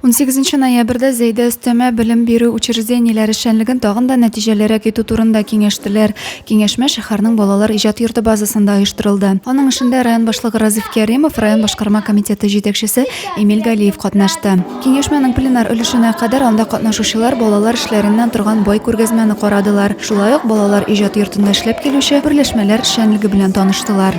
Унсигезенче ноябрьдә Зәйдә өстәмә белем бирү учреждениеләре эшчәнлеген тагын да нәтиҗәлерәк итү турында киңәштеләр. Киңәшмә шәһәрнең балалар иҗат йорты базасында оештырылды. Аның эшендә район башлыгы Разиф Кәримов, район башкарма комитеты җитәкчесе Эмиль Галиев катнашты. Киңәшмәнең пленар өлешенә кадәр анда катнашучылар балалар эшләреннән торган бай күргәзмәне карадылар, шулай ук балалар иҗат йортында эшләп килүче берләшмәләр эшчәнлеге белән таныштылар.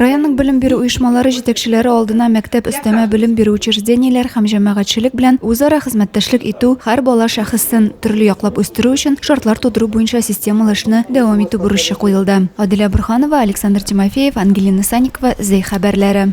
Районның белем бирү оешмалары җитәкчеләре алдына мәктәп өстәмә белем бирү учреждениеләр һәм җәмәгатьчелек белән үзара хезмәттәшлек итү, һәр бала шәхесен төрле яклап үстерү өчен шартлар тудыру буенча системалы эшне дәвам итү бурычы куелды. Аделя Борһанова, Александр Тимофеев, Ангелина Санникова, Зәй хәбәрләре.